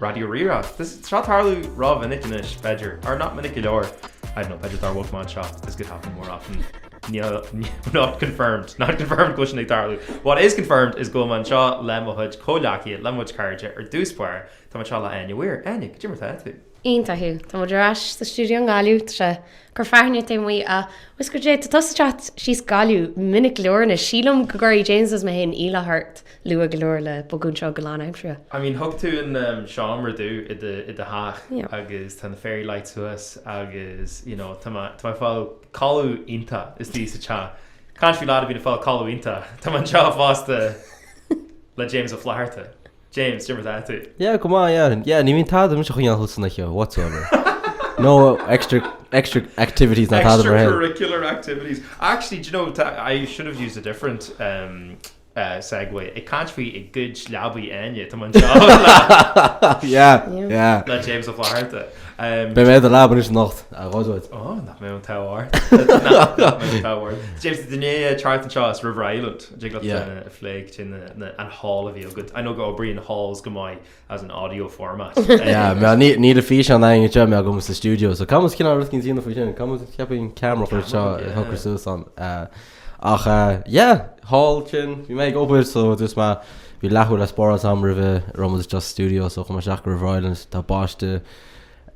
Raidió Rí-Rá. Tá seo ag tarlú ró-mhinic anois, b'fhéidir, or not minic go leor, I don't know, b'fhéidir dár bhog mé anseo, this could happen more often, níl, not confirmed, not confirmed go bhfuil sin ag tarlú, what is confirmed is go bhfuil mé anseo le mo chuid comhleacaithe, le mo chuid cairde, ar dtús báire, tá mé anseo le Áine Mhaoir. Áine, goidé mar 'tá tú? Iontach, Hugh, tá muid ar ais sa stiúideo i nGaillimh, tá sé ag cur fearthainne taobh amuigh agus goidé, tá tusa ag teacht síos Gaillimh minic go leor anois, sílim go gcuirfidh James is mé féin iallach ort. Luath go leor le bogadh anseo go lánaimseartha. I mean thug tú an seomra domh i do i do theach agus tá na fairy lights thuas agus you know tá mé tá mé ag fáil codladh iontach istigh sa teach. Caint faoi lad a bhíonn ag fáil codladh iontach. Tá mé anseo fosta le James Ó Flatharta. James, goidé mar atá tú. Yeah go maith yeah yeah ní bhíonn tada mise a choinneáil suas san oíche whatsoever. No extra extra activities ná tada mar sin. Extra curricular activities. Actually do you know ta- I should have used a different umm segue, ag caint faoi a gcuid leabaidh Áine, tá mé anseo le James Ó Flatharta. Beidh mé i do leaba anois anocht, a Ghaeldeoid. Ó, nach mbeidh an t-ádh ort. Nach mbeidh an t-ádh ort. James, tá tú i ndiaidh teacht anseo as River Island, an dtig leat a phlé goidé an haul a bhí agat? I know go n-oibríonn hauls go maith as an audio format. Yeah, mar níl físeán aithne seo me agam sa stiúideo, so caithfidh muid cineál rud eicínt a dhéanamh faoi sin, caithfidh muid ceapaim ceamara a chur seo Camera, yeah. a chur suas ann. eh, ach eh, yeah, haul sin, bhí mé ag obair so dúirt mé bhí leathuair le spáráil agam roimh a raibh muid istigh sa stiúideo so chuaigh mé isteach go River Island, tá baisteadh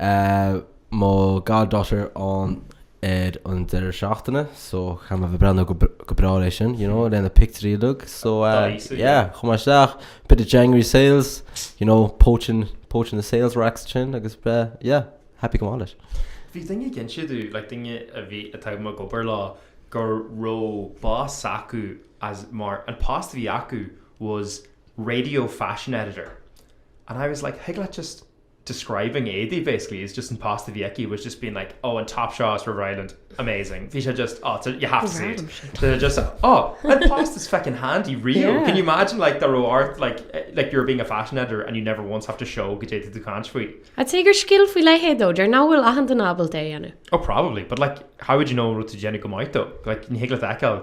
eh, Mo goddaughter ann ar an deireadh seachtaine so caithfidh mé a bheith ag breathnú go go breá le haghaidh sin you know le na pictiúirí uilig so Daoise, yeah yeah. chuaigh mé isteach bit of January sales you know poaching poaching the sales racks ansin agus eh yeah happy go maith leis. Bhí duine ag insint domh like duine a bhí atá mé ag obair leo go raibh boss s'acu as mar an post a bhí acu was radio fashion editor and I was like thig leat just describing éadaí basically, he was just in past a bhí aici, he was just being like oh and top shots River Island, amazing, bhí sé just oh you have to see it, bhí sé just oh and past is feckin handy real, can you imagine like dá raibh ort like like you're being a fashion editor and you never once have to show go dtéadfaidh tú caint faoi. I'd say gur scil faoi leithéid dó, deir nach bhfuil achan duine ábalta é a dhéanamh. Oh probably, but like how would you know rud tú déanamh go maith dó, like ní thig leat a fheiceáil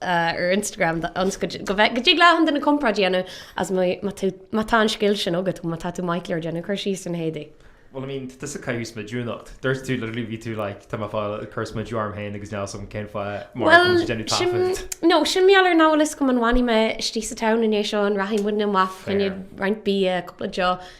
ar Instagram d'fhonns go dtig le achan duine comparáid a dhéanamh as má tá an scil sin agat, má tá tú maith go leor ag déanamh cur síos ar na héadaí. Bhuel, I mean, tá tusa ag caitheamh smidiú anocht. Dúirt tú literally bhí tú like tá mé fáil ag cur smidiú orm féin agus níl a fhios agam cén fáth mar Bhuel, go déanamh sin, taifead. no, sin mé ar an eolas go mba an bhfanfaidh mé istigh sa town i ndiaidh seo an rachaidh muidne amach, fá choinne roinnt bia, cúpla deoch,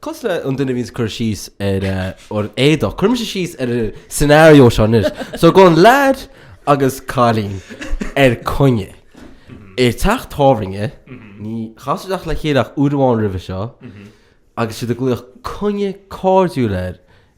Cosúil le an duine a bhíonn ag cur síos ar an éadach, cuirfidh mise síos ar an scenario seo anois. So gabhann leaid agus cailín ar coinne. I teach tábhairne, níor chas siad le chéile ach uair amháin roimhe seo agus siad ag glaoch coinne cairdiúil air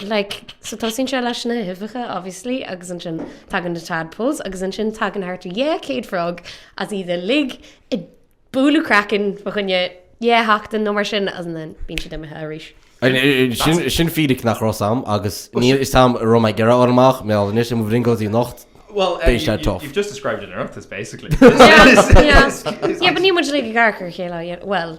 Like, so tosaíonn sé leis na huibheacha, obviously, agus ansin tagann na tadpoles, agus ansin tagann thart ar yeah, céad frog, agus iad uilig, ag bualadh craiceann fá choinne yeah, sheachtain nó mar sin, agus then bíonn siad imithe arís. I- i- i- sin, sin fíric nach raibh fhios agam, agus níl fhios agam an raibh mé ag iarraidh fháil amach, mé álainn anois, i mo bhrionglóidí anocht, Well, Beidh sé tough. you've just described an Oireachtas, basically. Yeah, yeah. Yeah, but ní muid uilig i gcarcair a chéile, yeah, well,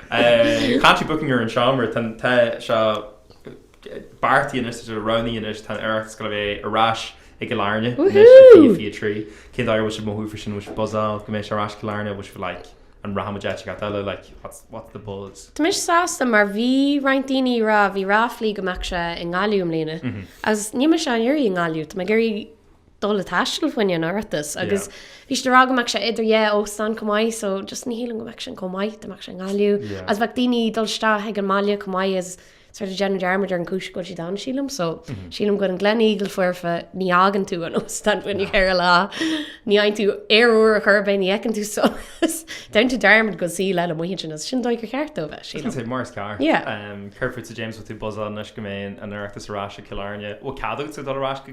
Cathy booking ar an seomra, Tá tá seo beartaithe anois tá seo roghnaithe anois tá an Oireachtas ag gabháil a bheith ar ais i gCill Airne anois i Woohoo! Fiche 3. Cén dóigh a bhfuil sibh ag mothú faoi sin an bhfuil sibh buzzed go mbeidh sé ar ais i gCill Airne nó an bhfuil sibh like an rachaidh muid áit inteacht eile like what's what's the buzz? Tá mise sásta mar bhí roinnt daoine ag rá bhí ráflaí go mbeadh sé i nGaillimh i mbliana agus níl mise á iarraidh i nGaillimh tá mé ag iarraidh dul ag taisteal fá choinne an Oireachtas agus bhí siad ag rá go mbeadh sé idir dhá óstán chomh maith so just ní shílim go mbeadh sin chomh maith dá mbeadh sé i nGaillimh agus bheadh daoine ag dul isteach ag an mbaile chomh maith agus sort of déanamh dearmad ar an chúis go bhfuil siad ann sílim so sílim go bhfuil an Gleneagle foirfe ní fhágann tú an óstán fá choinne ceithre lá ní fhaigheann tú aer úr ar chor ar bith ní fheiceann tú so déanann tú dearmad go bhfuil saol eile amuigh ansin agus sin an dóigh gur cheart dó bheith sílim. I was going to say mar is ceart yeah. Céard fút James bhfuil tú buzzed anois go mbeidh an Oireachtas ar ais i gCill Airne bhfuil cead agatsa dul ar ais go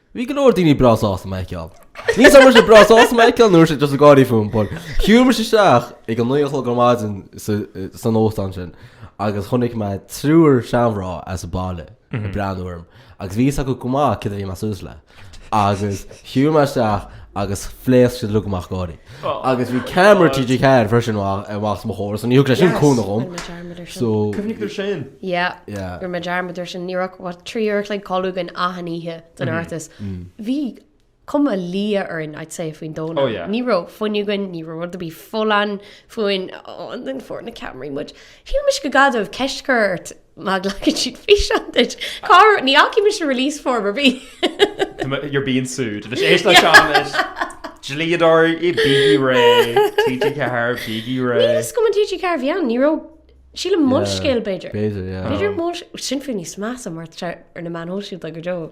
Bhí go leor daoine breá sásta mé a fheiceáil. Níl fhios agam an é breá sásta mé a fheiceáil nó just ag gáirí fúm, but shiúil mé isteach ag a naoi a chlog ar maidin san óstán sin agus chonaic mé triúr seanmhná as an baile ag breathnú orm agus bhí fhios acu go maith céard a bhí mé suas le agus shiúil mé isteach agus phléasc siad uilig amach ag gáirí. Agus bhí ceamara TG4 freisin amach os mo chomhair, so ní thug sé sin cúnamh dhom. Rinne mé dearmad ar sin. So. Cuimhnigh tú ar sin? Yeah. Yeah. Rinne mé dearmad ar sin. Ní raibh ach, what, trí uair a chloig codladh againn achan oíche den Oireachtas. Bhí cuma liath orainn, I'd say, faoin Domhnach. Oh yeah. Ní raibh fuinneamh againn, ní raibh rud ar bith folláin fúinn. Oh, and then fuair na ceamaraí muid. Shíl mise gur gá dóibh ceist a chur ort. Má ghlacann siad físeán duit, cá raibh, ní fhaca mise an release form ar bith. You're being sued. Anois éist leis seo anois. Dlíodóirí bígí réidh TG4, bígí réidh. Níl fhios agam an TG4 bhí ann, ní raibh, sílim Molscéal b'fhéidir. B'fhéidir, yeah. B'fhéidir Molscéal, sin fiú níos measa mar tá sé ar na meáin shóisialta go deo.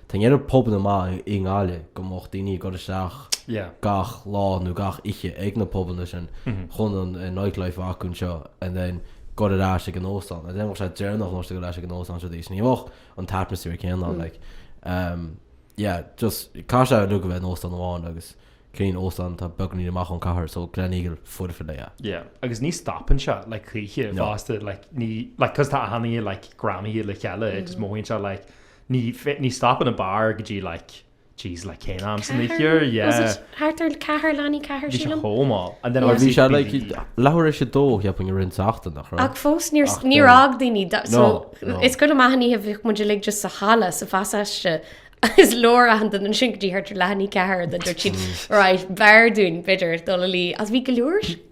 Tá an oiread pobanna maithe i nGaillimh go mbeadh daoine ag dul isteach gach lá nó gach oíche ag na pobanna sin chun an nightlife acu anseo and then dul ar ais ag an óstán. and then tá sé déanach nó gur ar ais ag an óstán siad arís. Ní bheadh an t-atmaisféar céanna ann like. Umm yeah just caithfidh sé uilig a bheith in óstán amháin agus cineál óstán atá beagáinín amach ón cathair so Gleneagle foirfe le a. Yeah agus ní stopann sé like choíche fosta like ní like cos tá achan oíche like greamaithe le chéile it just mothaíonn sé like Ní, ní stopann an beár go dtí like, jeez, like cén am san oíche? Ceathair, was yeah. it? Thart ar ceathair, leath i ndiaidh a ceathair, Bhí sé sílim. chomh mall. And then Yeah. Bhí obviously sé like, bhí- bhí leathuair tar éis a dó, cheapfainn roinnt seachtain, nach raibh? Ach fós, níor, Ach, níor eh, fhág daoine, da- so, no, no. is cuid mhaith den oíche bhíodh muid uilig just sa halla, sa phasáiste, is leor aithint an ansin go dtí thart ar leath i ndiaidh a ceathair, then dúirt siad, right, b'fhearr dúinn, b'fhéidir, dul a luí, agus bhí go leor,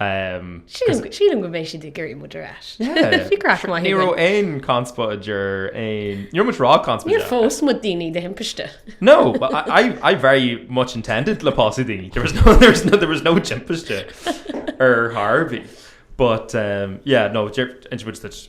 Um, Sílim sílim go mbeidh siad ag iarraidh muid ar ais. Yeah. Bhí craic maith Ní raibh aon conspóid idir aon... Ní raibh muid róchonspóideach. Níor phós muid daoine de thimpiste. No, but I, I, I very much intended le pósadh daoine. There was no, there was no, there was no timpiste ar chor ar bith. But, um, yeah, no, int muid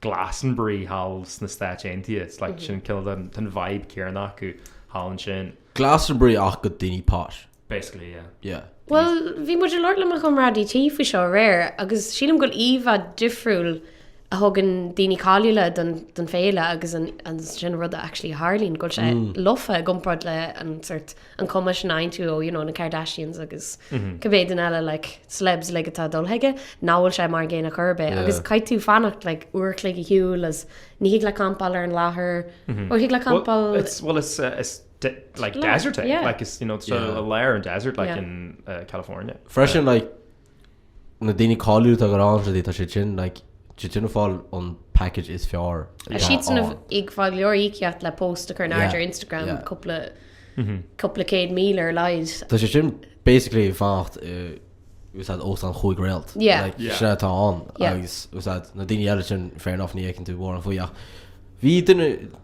Glastonbury thall sna Stáit Aontaithe. It's like sin cineál tá an vibe céarna acu thall ansin. Glastonbury ach do dhaoine posh. Basically yeah. Yeah. Bhuel, bhí muid ag labhairt le mo chomrádaí tí faoi seo aréir agus sílim go bhfuil íomhá difriúil a thugann daoine cáiliúla don don féile agus ansin an rud a actually a tharlaíonn go bhfuil sé lofa i gcomparáid le an sort an cuma sin a fhaigheann tú ó you know na Kardashians agus cibé duine eile like celebs like atá dul chuige nach bhfuil sé mar an gcéanna chor ar bith yeah. agus caithfidh tú fanacht like uair an chloig ar shiúl as ní thig leat campáil ar an láthair mm-hmm. ó thig leat campáil well, it's, well, it's, uh, it's de- like Lá- desert yeah. like it's you know it's yeah. i lár an desert like yeah. in uh, California freisin yeah. like na daoine cáiliúla atá ag gabháil ann tá siad sin like siad sin ag fáil an package is fearr Tá siad san ann. ag fáil go leor íocaíocht le post a chur in airde ar Instagram cúpla cúpla céad míle ar a laghad. Tá siad sin basically ag fanacht i úsáid óstán chúig réalt like sin atá ann agus úsáid na daoine eile sin fair enough ní fheiceann tú mórán faoi ach bhí duine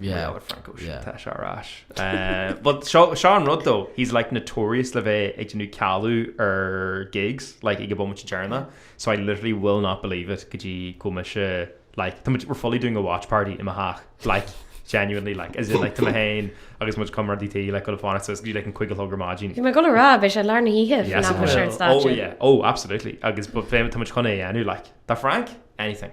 Yeah, yeah. Tá sé ar ais. Eh, but seo seo an rud though, he's like notorious le bheith ag déanamh cealú ar gigs, like ag an bhomaite deireanach. So I literally will not believe it go dtí go mbeidh sé like tá muid we're fully doing a watch party i mo theach like genuinely like as in like tá mé féin agus mo chomrádaí tí like ag gabháil a fhanacht suas go dtí like an cúig a chlog ar maidin. Bhí mé ag gabháil a rá, beidh sé lár na hoíche Yes, fan it ach bhí sé will. an Oh stáitse. yeah, oh absolutely agus but fé tá muid chun é a dhéanamh like. Tá Frank? Anything.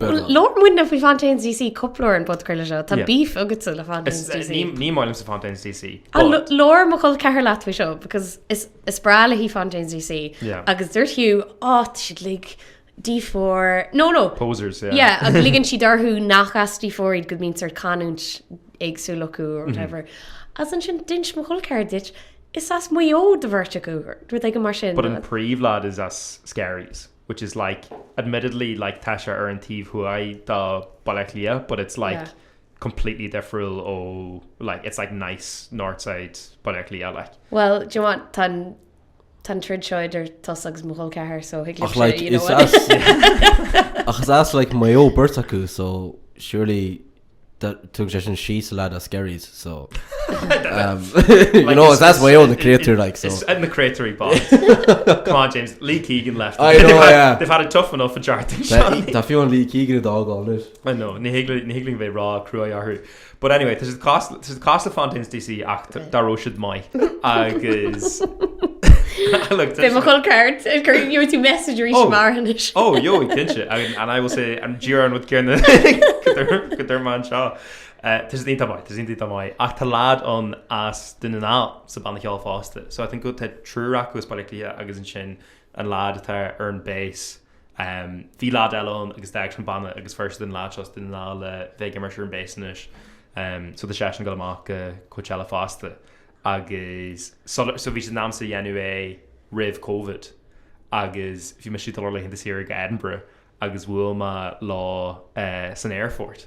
Bhuel, labhair muidne faoi Fontaines DC cúpla uair ar an phodchraoladh seo. Tá beef agatsa le Fontaines Is- DC. ní- ní maith liomsa Fontaines DC. An but- l- labhair mo chol ceathar leat faoi seo because is is breá léi Fontaines DC Yeah. agus dúirt tú á tá siad uilig D4 no no Posers, yeah. yeah agus ligeann siad orthu nach as D4 iad go mbíonn sort canúint éagsúil acu or Mm-hmm. whatever agus ansin d'inis mo chol ceathar duit is as Maigh Eo do bheirt acu rud éigin mar sin But an príomhlad is as Skerries. which is like, admittedly, like tá sé ar an taobh thuaidh do Baile Átha Cliath, but it's like Yeah. completely difriúil ó, like, it's like nice north side Baile Átha Cliath, like. Bhuel, do you know what, tá an- tá an troid seo idir tusa agus mo dhul ceathair, so thig Ach, libh like, sé, you know is what. as, ach is as, like, Maigh Eo beirt acu, so surely Tugann sé sin síos le na Skerries so you know it's that's Maigh Eo na créatúir like so. Sin na créatúirí bochta. Come on James, Lee Keegan left. I know yeah. They've had it tough enough an Déardaoin seo. Tá fiú amháin Lee Keegan i dtoghán anois. I know, ní thig linn bheith róchruaidh orthu. But anyway, tá siad casta. This is the cost of Fontaines DC ach dá raibh siad maith agus look Bhí mo chol ceathar It's great you to message arís Oh. mar anois. Ó jó cinnte agus and I will say díreach an rud céanna go dúirt- go dúirt mé anseo. Eh, tá siad iontach maith, tá siad iontach maith ach tá leaid ann as Dún na nGall sa banna ceoil fosta so I think go bhfuil te- triúr acu as Baile Átha Cliath agus ansin an leaid atá ar an bass. Bhí leaid eile ann agus d'fhág sé an banna agus fuair siad an leaid seo as Dún na nGall le bheith ag imirt ar an bass anois so tá seisean ag dul amach go Coachella fosta agus sular, so bhí siad in ainm is a dhéanamh é roimh Covid agus bhí mise ag dul ar laethanta saoire go Edinburgh agus bhuail mé leo san aerfort.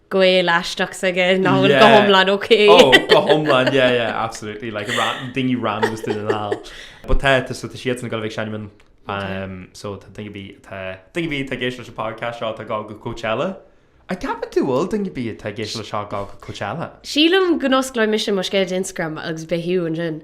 Gael aisteach s'aige, ná bhfuil go hiomlán ok. Ó, go hiomlán, yeah, yeah, absolutely, like daoine random as Dún na nGall. But tá, tá siadsan ag dul a bheith ag seinm ann, so tá daoine ar bith atá, daoine ar bith atá ag éisteacht leis an podcast seo atá ag gabháil go Coachella. An gceapann tú go bhfuil daoine ar bith atá ag éisteacht leis seo ag gabháil go Coachella. Sílim go n-osclóidh mise mo scéal Instagram agus beidh thú ansin.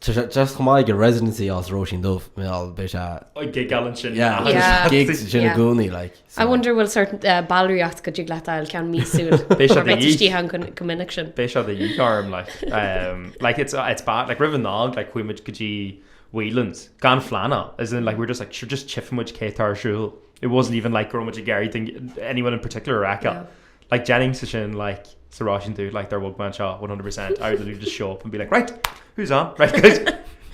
Just chomh maith ag a residency sa Róisín Dubh, mé al, beidh sé. Ag gigeáil ansin. Yeah, agus Yeah. gig That's- ansin i yeah. gcónaí, like. so. I wonder bhfuil sort uh, ballraíocht go dtig leat a fháil ceann míosúil. Beidh sé Mar de bheith dhíth. istigh ann chomh- chomh minic sin. Beidh sé de dhíth orm, like, um, like, it's, it's bad, like, roimh an Nollaig, like, chuaigh muid go dtí Whelan's, gan phlean ann, as in, like, we're just, like, sure, just tífimid cé tá ar siúl. It wasn't even, like, go raibh muid ag iarraidh duine- anyone in particular a fheiceáil. Yeah. Like dhéanfainnse sin like sa Róisín Dubh like dár bhog mé anseo 100%, I would literally just show up and be like right, who's on? Right guys,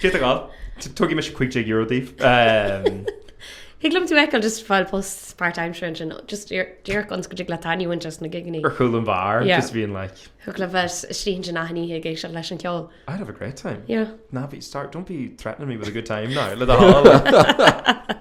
cé tá ag gabháil? Tugfaidh mise €15 daoibh. Um, Thig liom tú a fheiceáil just ag fáil post part-time ansin just díreach ionas go dtig leat a dhéanamh ann just na gigeannaí. Ar chúl an bheáir, yeah. just being like. Thig leat bheith suí ansin achan oíche ag éisteacht leis an ceol. I'd have a great time. Yeah. Ná bí start, don't be threatening me with a good time now. Le dá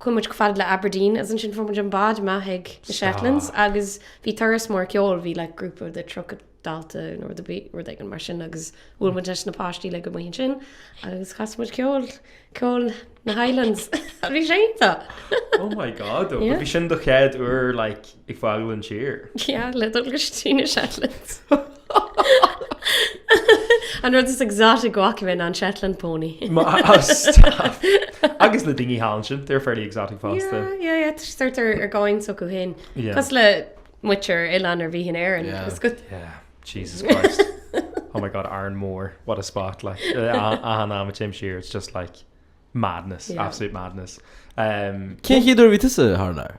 Chuaigh muid chomh fada le Aberdeen agus ansin fuair muid an bád amach ag na Shetlands agus bhí turas mór ceoil, bhí like grúpa de 30 dalta nó rud a bhí rud éigin mar sin agus bhuail muid leis na páistí uilig amuigh ansin agus chas muid ceol ceol na Highlands a bhí sé iontach. Oh my god, ó, Yeah. bhí sin do chéad uair like Ag fágáil an tír? Yeah, le dul go dtí na Shetlands. An rud is exotic go bhfaca muid ná an Shetland pony. Ma- oh, stop. Agus na daoine thall ansin, they're fairly exotic fosta. Yeah, yeah, yeah, tá- tá- tá siad ar domhan s'acu féin. Yeah. Cosúil le muintir oileán ar bith in Éirinn. Yeah. Is go- Yeah, Jesus Christ. oh my God, Arranmore, what a spot, like, achan am a théim siar, it's just like madness, Yeah. absolute madness. Um, Cén chéad uair a bhí tusa thar lear?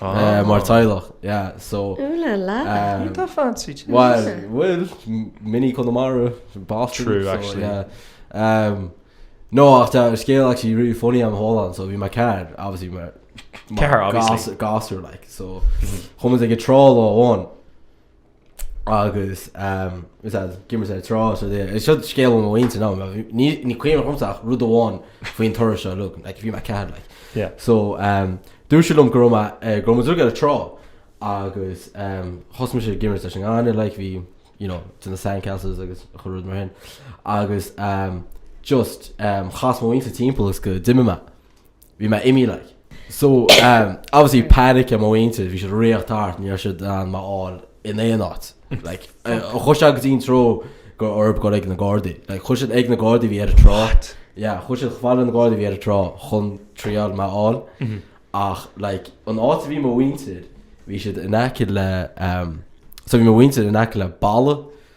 Ah. Mar teaghlach, yeah, so. Ooh la la. Ní tá fancy too. Bhuel, bhuel, mini Conamara, Boston. True, actually. So, yeah. Um, no, ach tá ar scéal actually really funny am whole on, so bhí my car, obviously, my, my Car, obviously. Gasser, like, so, chumas ag a trá lá amháin, agus d'imir sé ar trá is rud é. Seo scéal ó mo mhuintir ná mé. Ní ní cuimhin liomsa ach rud amháin faoin turas seo lugh like bhí mé ceathair like. Yeah. So dúirt siad liom go raibh mé ar go raibh muid uilig ar an trá agus thosaigh mise ag imirt leis an ngaineamh like bhí you know to the sand castles agus chuile rud mar sin agus just chas mo mhuintir timpeall is go d'imigh mé. Bhí mé imithe like. So, obviously panic ar mo mhuintir, bhí siad ag rith thart, ní raibh siad in ann mé a fháil in aon áit. Like, chuaigh sé go dtí an treo go raibh orthu dul ag na Gardaí. Like, chuaigh siad ag na Gardaí a bhí ar an trá. What? Yeah, chuaigh siad fhad le na Gardaí a bhí ar an trá, chun triail mé a fháil. Ach, like, an áit a bhí mo mhuintir, bhí siad in aice le, so bhí mo mhuintir in aice le balla,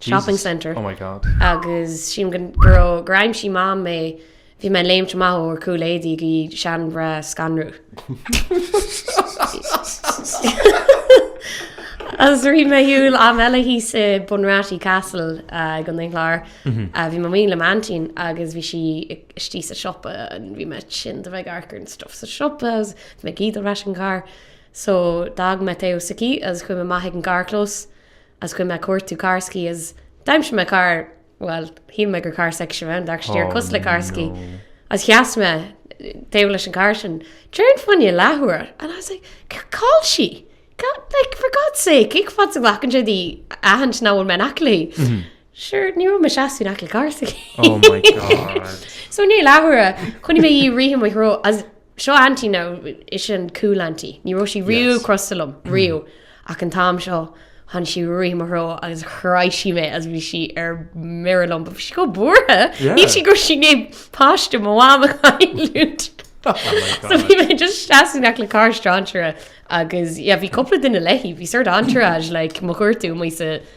shopping centre. Oh my God. Agus sílim go go raibh gur aimsigh Mam mé bhí mé léimte amach ó ar chúl éadaí ag iarraidh seanmhná a scanrú. Agus rith mé ar shiúl am eile thíos i Bunratty Castle i gContae an Chláir. Bhí mé amuigh le m'aintín agus bhí sí istigh sa siopa and bhí mé tinn de bheith ag amharc ar an stuff sa siopa agus bhí mé ag iarraidh dul ar ais an carr so d'fhág mé taobh s'aici agus chuaigh mé amach ag an gcarrchlós. Agus chuaigh mé ag cuartú carr s'aici agus d'aimsigh mé carr, bhuel, shíl mé gur carr s'aicise a bhí ann, d'amharc sé cosúil le carr s'aici, agus sheas mé taobh leis an gcarr sin, déarfainn fá choinne leathuair, and I was like, cá bhfuil sí? like, for God's sake, cé chomh fada is a ghlacann sé di aithint nach bhfuil mé in aice léi? Sure, ní raibh mé ag seasamh in aice le carr s'aici. Oh my God. So, i ndiaidh leathuaire, chonaic mé í ag rith i mo threo agus, Seo Auntie now is í an cool Auntie. Ní raibh sí riamh Yes. crosta liom, riamh. Ach an t-am seo, tháinig sí ag rith i mo threo agus chroith sí mé agus bhí sí ar mire liom. But bhí sí chomh buartha. Yeah. Shíl sí go raibh sí i ndiaidh páiste mo mham a chailliúint. Oh my So God. bhí mé just ag seasamh in aice le carr strainséara agus yeah, bhí cúpla duine léi, bhí sort entourage like mo chuartú, mo sa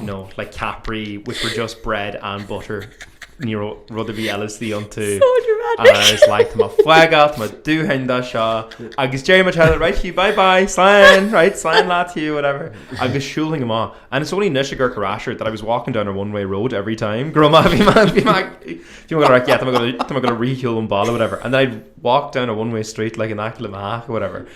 you know, like Capri, which were just bread and butter, ní raibh rud ar bith eile istigh iontu. So dramatic! And I was like, tá mé ag fágáil, tá mo dhóthain de seo, agus déarfadh mo theaghlach, right Hugh, bye bye, slán, right, slán leat Hugh, whatever. Agus shiúlfainn amach. And it's only anois ag amharc ar ais air that I was walking down a one-way road every time. Go raibh mé, bhí mé, right, yeah, tá mé ag gabháil a rith ar shiúl ón bhaile, whatever. And then I'd walk down a one-way street like in aice le mo theach, whatever.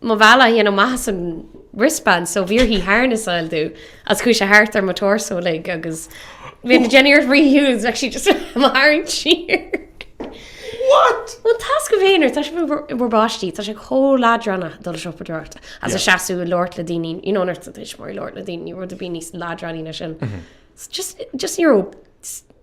Mo bhealach a dhéanamh amach as an wristband so bhí uirthi harness a fháil domh agus chuaigh sé thart ar mo torso uilig agus nuair a dhéanainn iarracht rith ar shiúl bheadh sí just mo tharraingt siar. What? Bhuel tá a fhios agaibh féin, nuair atá sibh in bhur bpáistí, tá sé chomh leadránach ag dul ag siopadóireacht agus ag seasamh ag labhairt le daoine, you know nuair atá tuismitheoir ag labhairt le daoine ní raibh rud ar bith níos leadránaí ná sin. Just just ní raibh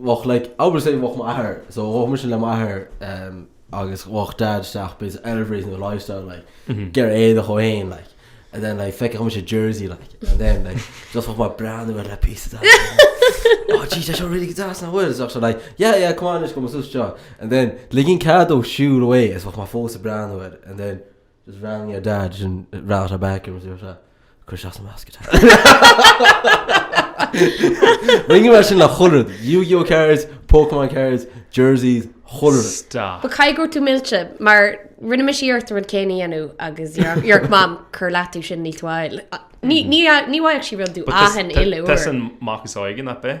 bheadh like I would say bheadh m'athair so bheadh mise le m'athair um agus bheadh dad isteach bíos elevate in the lifestyle like ger é do cho hain like and then like feice mise jersey like and then like just bheadh mar brand bheit le pí oh gee that's really good that's not words so like yeah yeah come on just go sus jo and then ligin cad ó siú away is bheadh má fós a brand bheit and then Just rang your dad and brought her back and was there like Cuir sé as an measc atá. Rinneadh mar sin le hundred, Yu-Gi-Oh cards, Pokémon cards, jerseys, hundred. Stop. But caithfidh go raibh tú millte mar rinne mise iarracht rud céanna a dhéanamh agus dúirt mam cuir leataobh sin níl tú á fháil. Ní ní a- ní bhfaigheadh sí rud domh But achan uile uair. Tusa an mac is óige, not bith.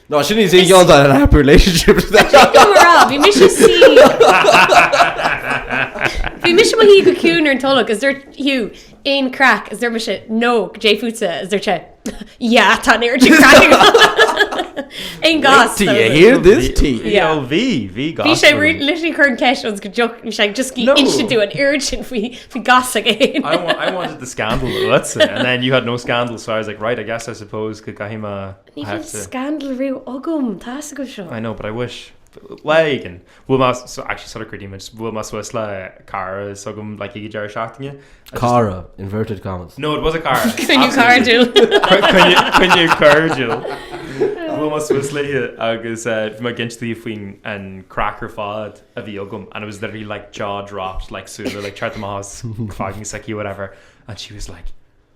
No, sin is eol dá an happy relationship. Bhí mise sí. Bhí mise mo shuí go ciúin ar an tolg is dúirt Hugh aon craic is dúirt mise no dé fútsa is dúirt sé yeah tá an oiread craic Aon goss. Do you hear this tea? Yeah. Ó, bhí, bhí Bhí goss. sé ri- literally cur an ceist ionas go dtiocfadh bhí sé just No. insint domh an oiread sin faoi bhí goss againn. I,. wa- I wanted the scandal, that's it. And then you had no scandal, so I was like, right, I guess I suppose go gcaithfidh mé a... Ní bhfuil scandal riamh agam, tá a fhios agat seo. I know but I wish. Lá éigin, bhuail mé, so actually sort of greedy me, just bhuail mé suas le cara is agam like ag an deireadh seachtaine. I just- Cara, inverted commas. No it was a cara. Coinne cairdiúil. Coinne, coinne, coinne cairdiúil. Bhuail mé suas léi agus eh, bhí mé ag insint di faoin an craic ar fad a bhí agam and I was literally like jaw dropped like súile like teacht amach as fucking soicéid whatever and she was like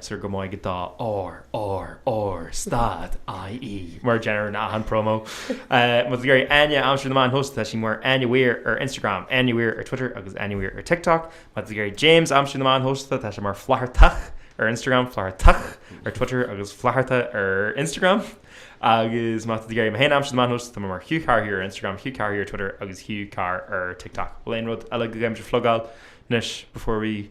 Sir go mbeidh dá ár, ár, ár, stad, IE, mar deir an achan promo. Má tá tú ag iarraidh Áine a aimsiú ar na meáin shóisialta tá sí mar Áine Weir ar Instagram, Áine Weir ar Twitter agus Áine Weir ar TikTok. Má tá tú ag iarraidh James a aimsiú ar na meáin shóisialta tá sé mar Flathartach ar Instagram, Flathartach ar Twitter agus Flatharta ar Instagram. Agus má tá tú ag iarraidh mé féin a aimsiú ar na meáin shóisialta tá mé mar Hugh Carr here ar Instagram, Hugh Carr here ar Twitter agus Hugh Carr ar TikTok. Bhfuil aon rud eile go gcaithfimse flogáil anois before we